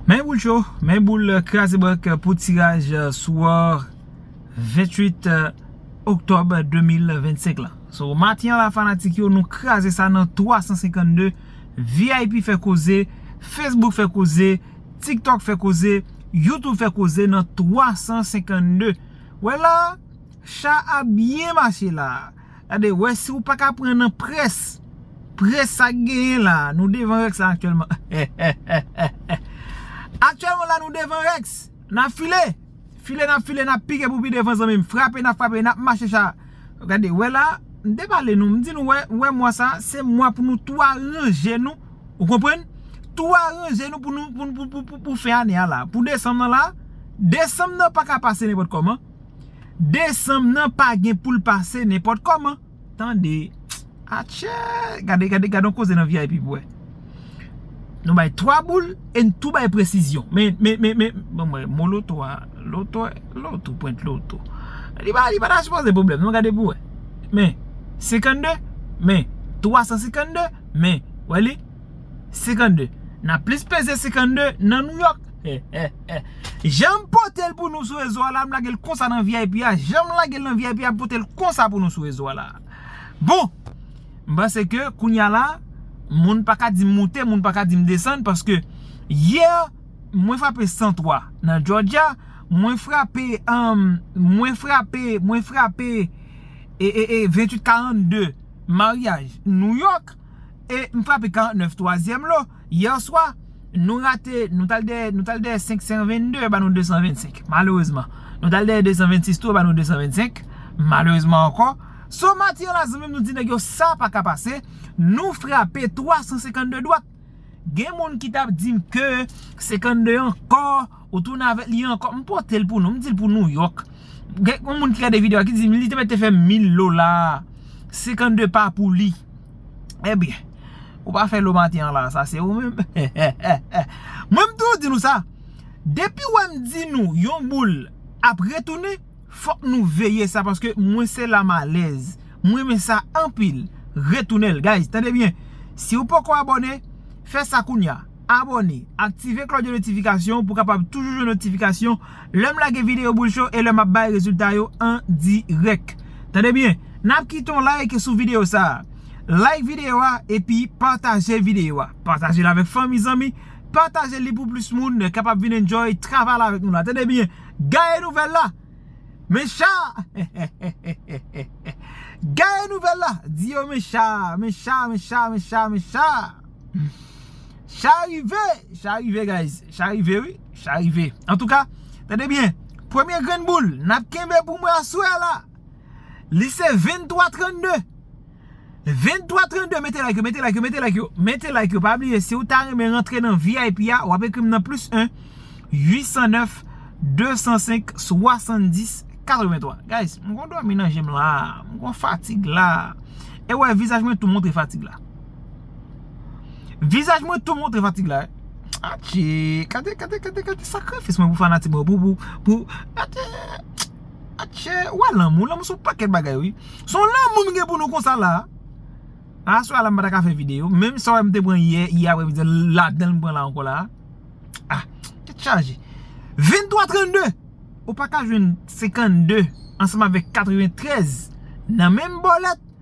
Men boul cho, men boul kraze bank pou tiraj sou or 28 Oktob 2025 la. So maten an la fanatik yo nou kraze sa nan 352, vip fè koze, Facebook fè koze, TikTok fè koze, YouTube fè koze nan 352. Wè la, cha a byen mache la. Gade wè si ou paka pran nan près Près sa k genyen la Nou devan Rex la aktyèlman Hehehehe Aktyèlman la nou devan Rex N ap file File n ap file n ap pike pou pi devan zanmi m Frape n ap frape n ap mache cha Gade wè la M te pale nou m di nou wè Wè mwa sa se mwa pou nou tou aranje nou Ou konprann Tou aranje nou pou nou pou pou pou pou fen ane a la Pou desanm nan la Desanm nan paka pase nenpòt kòman Desanm nan pa gen poul pase nenpòt kòman tande Atchèèèè gade gade gade yon koze nan vip pou wè Nou bay 3 boul e n tou bay presizyon men men men men bon m wè mo loto a loto loto pwent loto li pa li pa ta sipoze pwoblèm non gade pou wè men 52 men 352 men wè li 52 n ap plis peze 52 nan Nouyòk. Janm potel pou nou sou rezo a la m lagel konsa nan vip a janm lagel nan vip a m potel konsa pou nou sou rezo a la bon m panse ke kounya la moun pa ka dim moute moun pa ka dim desann paske yè mwen frape 103 nan jòjya mwen frape mwen frape mwen frape ee 28 42 maryaj nouyòk e m frape 49 twazyèm lo. Hier swa Nou rate Nou tal dèyè Nou tal dèyè 522 yo ba nou 225 Malerezman Nou tal dèyè 226 tou yo ba nou 225 Malerezman ankò So Matye la zanmim nou di nèg yo sa paka pase Nou frape 352 dwat Gen moun ki tap dim ke 52 ankò Ou tounen avèk li ankò M potel pou nou M dil pou New York Gen yon moun ki gade video a ki dim li te mèt te fè 1000 dola 52 pa pou li. Ebyen, ou pa fè lomati an la, sa se ou menm. Mwen m toujou di nou sa, depi wè m di nou yon boul ap retounen, fòk nou veye sa paske mwen se la m alèz. M renmen sa anpil. Retounen l guys, tande byen. Si ou poko abòne, fè sa kounya. Abòne, aktive klòch de notifikasyon pou kapab toujou jwenn notifikasyon. Lèm lage video boul cho e lè map bay rezilta yo an dirèk. Tande byen, nap kite yon like sou video sa. Like video a epi pataje video a. Patajel avèk fanmi zanmi, pataje li pou plis moun kapab vin enjoy travay la avèk nou la. Tande byen, gaye nouvèl la! Men cha! Gaye nouvèl la! Di yo men cha, men cha, men cha, men cha, men cha! Cha rive, cha rive guys, cha rive wi, cha rive Antouka, tande byen, premye grenn boul n ap kenbe pou mwen aswè a la Li se 23 32 23 32, mete like yo, mete like yo, mete like yo Mete like yo, pa bliye si ou ta renmen rantre nan vip a W ap ekri m nan plis 1 809 205 70 83 Guys, m gon dòmi nan je m la, m gon fatig la E wè vizaj mwen tou montre fatig la Vizaj mwen tou montre fatig la. A che. Kade kade kade kade sakrifis mwen pou fanatik mwen. Pou pou pou. A che. A che. Ou a lanmou. Lanmou sou paket bagay ou. Son lanmou nou gen pou nou konsa la. A sou a la mwen pa ta ka fè video. Menm sa wè mwen te pran ye. Ye apre midi. La dan mwen pran la anko la. A. Te chaje. 23 32. Ou pa ka jwen 52. Anseman vek 93. Nan menm bolet.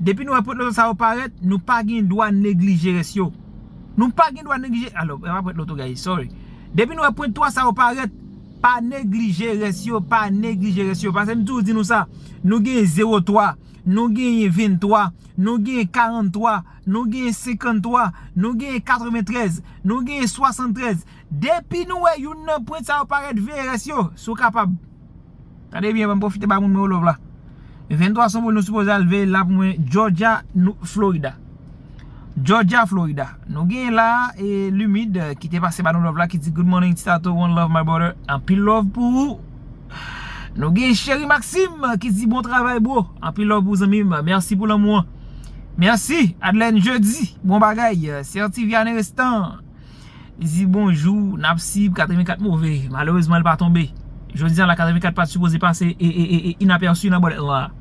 Depi nou wè prèt loto sa yo parèt, nou pa gen dwa neglije rès yo. Nou pa gen dwa neglije, a non, e pa prèt loto guys, sorry. Depi nou wè prent 3 sa yo parèt, pa neglije rès yo, pa neglije rès yo. Pase m toujou di nou sa, nou gen 0 3, nou gen 23, nou gen 43, nou gen 53, nou gen 93, nou gen 73. Depi nou wè youn nan prent sa yo parèt, veye rès yo, si w kapab. Tande byen banm pwofite ba moun mwen yo love la 23 San Paul nou sipoze al veye la pou mwen Georgia Florida Georgia Florida Nou gen la Lumid ki te pase ba nou love la ki di good morning Ti Tato one love my brother Anpil love pou ou Nou gen Cheri Maxime ki di bon travay bro Anpil love pou ou zanmi m Merci pou lanmou an Merci Adlène Jeudy bon bagay Certi Viane Restan Li di bonjou, nap sib 84 move. Malerezman li pa tonbe. Jodi a la 84 pat sipoze pase inapèsi nan bòlèt lan.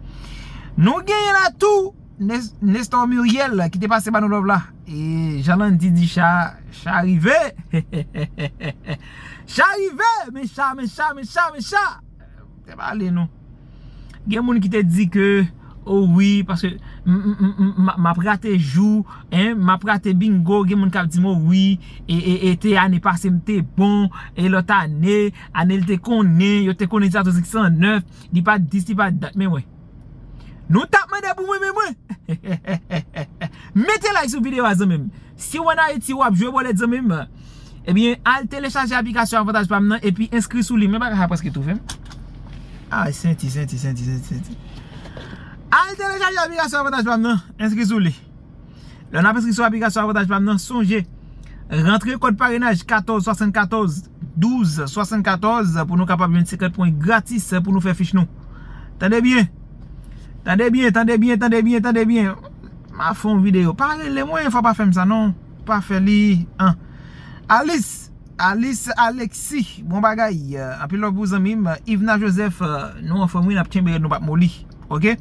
Nou genyen la tou Nestor Muriel ki te pase ba nou love la. E jan Landy di cha, cha rive. Cha rive, men cha, men cha, men cha, men cha. Te pale non. Gen moun ki te di ke o wi paske m ap rate jou, m ap rate bingo, gen moun k ap di m o wi e te ane pase m te bon, e lòt ane, ane l te konnen, yo te konnen Jatòs X 109, li pa t dis, li pa t dat men wè. Nou tap mande pou mwen men mwen. Mete like sou video a zanmim. Siw an Ayiti wap jwe bolet zanmim Ebyen al telechaje aplikasyon avantaj pam nan epi enskri sou li men bagay sa preske toufem Ay senti senti senti senti senti Al telechaje aplikasyon avantaj pam nan enskri sou li Lè nap enskri sou aplikasyon avantaj pam nan sonje rantre kòd parenaj 14 74 12 74 pou nou kapab jwenn 50 pwen gratis pou nou fè fich nou Tande byen Tande byen tande byen tande byen tande byen. Map fè yon video. Pa rele mwen fwa pa fèm sa non. Pa fè li anh. Alice Alice Alexis bon bagay anpil love pou ou zanmim Yvena Joseph nou anfom wi nap tchenbe rèd nou pap moli ok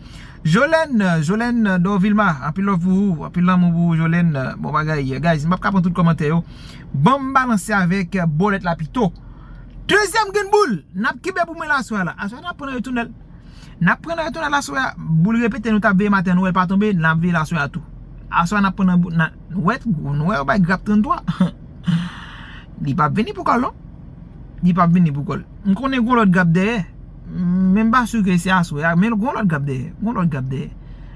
Jolène Jolène Dorvilma anpil love pou ou anpil lanmou pou ou Jolène bon bagay guys mpap ka pran tout kòmantè yo banm balanse avèk bòlèt la pito dezyèm grenn boul nap kenbe pou mwen la aswè a la aswè a nap pran nan retounèl. Nap pran nan retonad laswè a, boul repete nou tap veye maten an nou wèl pa tonbe, nap veye laswè a tou. Aswè a nap pran nan boul, nan, nou wè, nou wè yo bay grap 33, li pap vini pou kòl non, li pap vini pou kòl. M konnen gon lòt grap dèyè, men m pa su ke se aswè a, men gon lòt grap dèyè, gon lòt grap dèyè.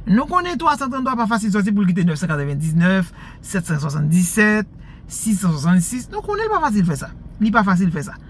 Nou konnen 333 pa fasil sòti poul kite 999, 777, 666, nou konnenl pa fasil fè sa, li pa fasil fè sa.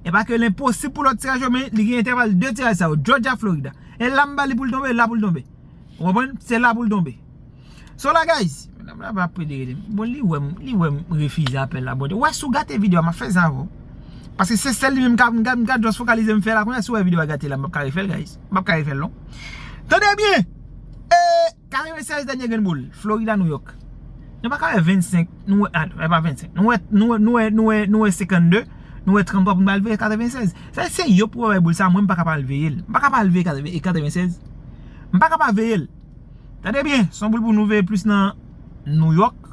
E pa ke l enposib pou lòt tiraj yo men li gen entèval 2 tiraj sa yo, Jòjya, Florida. E la m ba li pou l tonbe, e la pou l tonbe. Ou konprann? Se la pou l tonbe. So la guys, medam la pa pwede rele m. Bon li wè m, li wè m refize apèl la. Bon Dye, wè si w gate video a m ap fè sa avè w. Paske se sèl li menm ka, m ka just fokalize m fè la. Kounya si w wè video a gate la m pap ka refè l guys. M pap ka refè l non. Tande byen! E. 96 dènye grenn boul, Florida, New York. Nou pa ka wè 25, nou wè, e pa 25, nou wè, nou wè, nou wè, nou wè, nou wè 52, nou wè 33 pou nou al veye 96. Sa se yo pou wè boul sa mwen m pa ka pa al veye l. M pa ka pa al veye 96. M pa ka pa veye l. Tande byen, son boul pou nou veye plis nan New York.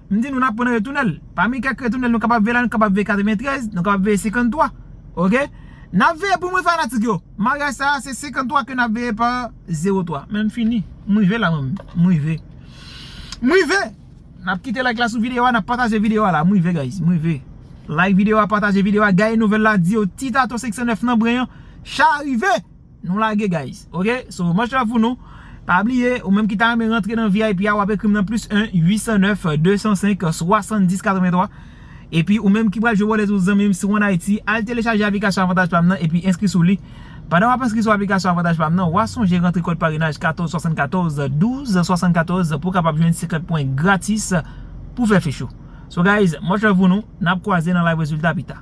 M di nou n ap pran retounèl. Pami kèk retounèl nou kapab veye la, nou kapab veye 93, nou kapab veye 53. Ok? N ap veye pou mwen fanatik yo. Maryaj sa a se 53 ke n ap veye pa 03. Men m fini. M rive la mwen menm. M rive. M rive! N ap kite like la sou videyo a, n ap pataje videyo a la. M rive guys. M rive. Like videyo a, pataje videyo a, gaye nouvèl la, di yo Titato 509 nan bren an cha rive! Nou lage guys ok so much love pou nou pa bliye ou menm ki ta renmen rantre nan vip a wap ekrim nan plis 1 809 205 70 83 epi ou menm ki pral jwe wòlèt ou zanmim si ou an ayiti al telechaje aplikasyon avantaj pam nan epi enskri sou li pandan wap enskri sou aplikasyon avantaj pam nan wa sonje rantre kòd parenaj 14 74 12 74 pou kapab jwenn 50 pwen gratis pou fè fechou so guys much love pou nou nap kwaze nan live rezilta pita.